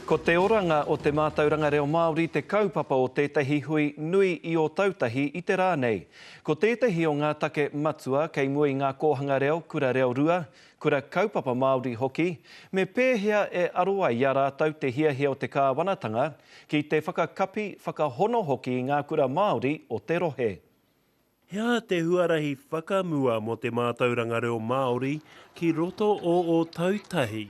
Ko te oranga o te mātauranga reo Māori te kaupapa o tētahi hui nui i Ōtautahi i te rā nei. Ko tētahi o ngā take matua kei mua i ngā kōhanga reo kura reo rua, kura kaupapa Māori hoki, me pēhea e aro ai i a rātou te hiahia o te kāwanatanga ki te whakakapi, whakahono hoki i ngā kura Māori o te rohe. He aha te huarahi whakamua mō te mātauranga reo Māori ki roto o ō tau tahi?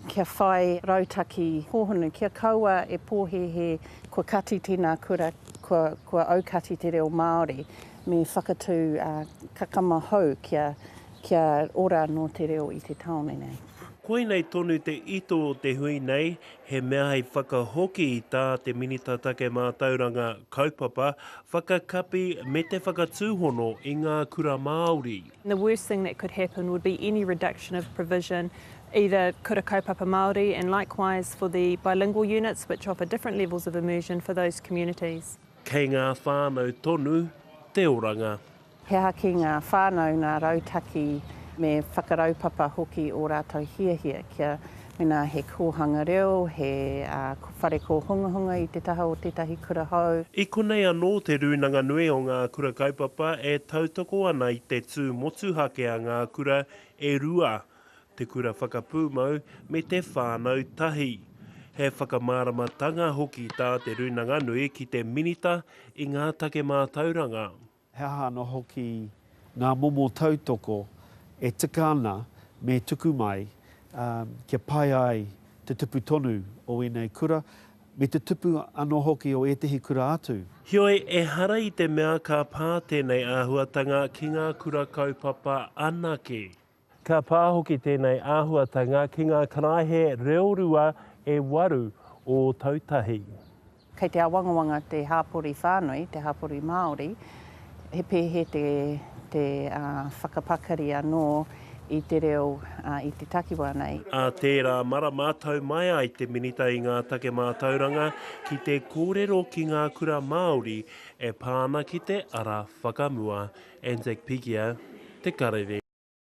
Kia whai rautaki hōhonu, kia kaua e pōhēhē kua kati tēnā kura, kua, kua aukati te reo Māori, me whakatū kakama hou kia, kia ora anō te reo i te tāone nei. Koinei tonu te ito o te hui nei, He mea hei whakahoki tā te Minita Take Mātauranga, Kaupapa, Whakakapi me te Whakatūhono i ngā Kura Māori. The worst thing that could happen would be any reduction of provision either Kura Kaupapa Māori and likewise for the bilingual units which offer different levels of immersion for those communities. Kei ngā whānau tonu te oranga. He aha ki ngā whānau nā rautaki me whakaraupapa hoki ō rātou hiahia kia mēnā he kōhanga reo, he whare kōhungahunga i te taha o tētahi kura hou? I konei anō Te Rūnanga Nui o Ngā Kura Kaupapa e tautoko ana i te tū motuhake a ngā kura e rua, te kura whakapūmau me te whānau tahi. He whakamāramatanga hoki tā Te Rūnanga Nui ki te Minita i ngā take mātauranga. He aha anō hoki ngā momo tautoko e tika ana me tuku mai kia pai ai te tupu tonu o ēnei kura, me te tupu anō hoki o ētehi kura atu? Heoi, ehara i te mea ka pā tēnei āhuatanga ki ngā kura kaupapa anake. Ka pā hoki tēnei āhuatanga ki ngā karaehe reorua e waru Ōtautahi. Kei te awangawanga te hapori whānui, te hapori Māori, he pēhē te whakapakari anō i te reo i te takiwā nei. Ā tērā marama tau mai ai te Minita i ngā Take Mātauranga ki te kōrero ki ngā kura Māori e pā ana ki te ara whakamua, Anzac Pigia, Te Karere.